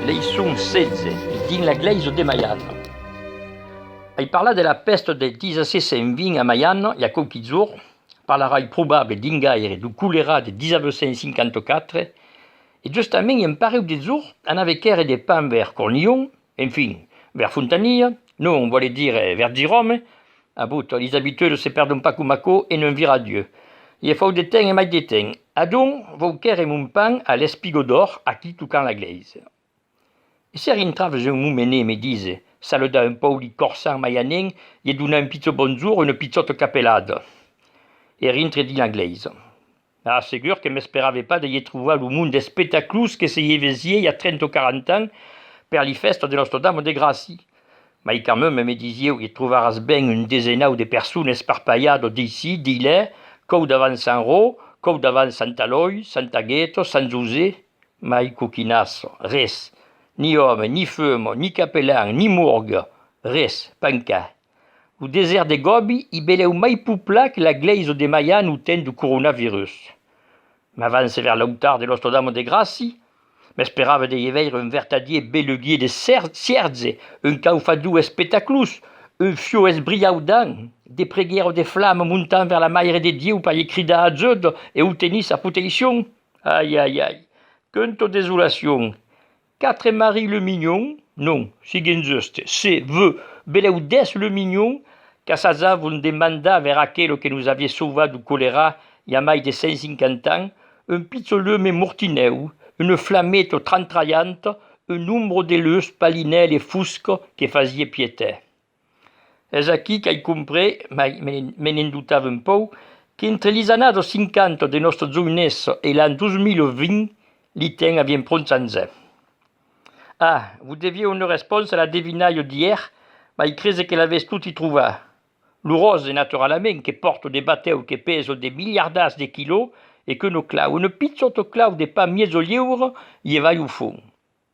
Leiçon 16, dins la glèisa de Maiana. Ai parlat de la pèsta del 1620 a Maiana i a quauqui jorn, Parlarai probabe dingaire du colerat de 1954, e justament un pareu de jors anave quèrre de pan ver Cornillon, enfin, ver Fontanilha, non, vòle dire ver Giròme, abut, lis abitudes se perdon pas coma aquò e non vira Dieu. I e fau de temps e mai de temps. Adonc vau quèrre mon pan a l'Espigodor, aquí tocant la glèisa. E se rintraves un momenet e me dise, saluda un pauc li corsants mai anèn ie donar un pichó bonjour, una pichòta capelada e rintre dins la glèisa. Ah, segur que m'esperave pas de ie trovar lo mond d'espetaclus que se ie vés iei a trenta o quaranta ans per li fèstas de Nòstra Dama de Gràcia. Mai quand même, me disieu, ie trovaràs ben un desenau de personas esparpalhadas d'ici, d'ilè, còu davant Sant Rò, còu davant Sant Alòi, Sant Agèto, Sant José, Mai coquinasso, res, ni òme, ni fumo, ni capelan, ni morgue, res, pan ca. Lo desèrt de Gobi i belèu mai pouplat que la glèisa de Maian au temps du coronavirus. M'avance vers l'autar de Nostra Dama de Gràci, m'esperava de i veire un vertadier beluguier de cierge, un caufador espectaclós, un fieu esbriaudant, de preguèra o de flama montant vers la Maire de Dieu per i cridar ajut e autenir sa proteicion. Ai, ai, ai! Queunto desolacion! Quatre Marie Le Mignon, non, siguen juste, se, ve, belèu dètz Le Mignon, qu'assajavon de mandar vers aquelo que nos avié sauvat du colerà i a mai de cent cinquanta ans, un pichon leume mortinèu, une flameto trantralhanta, un ombro de leuç palinèl e fusc que fasié piéter. Es aquí qu'ai comprés, mai me ne'n dotava un pòu, qu'entre lis annados 50 de nòstre joinés e l'an 2020, li tèn a vien pronts anzè. Ah, vos devié una respònsa a la devinalha d'ièr, mai crese que l'avètz toti trova. Lo ròse, naturalament, que pòrto de batèu que pèsa de miliardars de quilò e que no clau, una pichòta clau de pas mièja liura, i e vai au fon.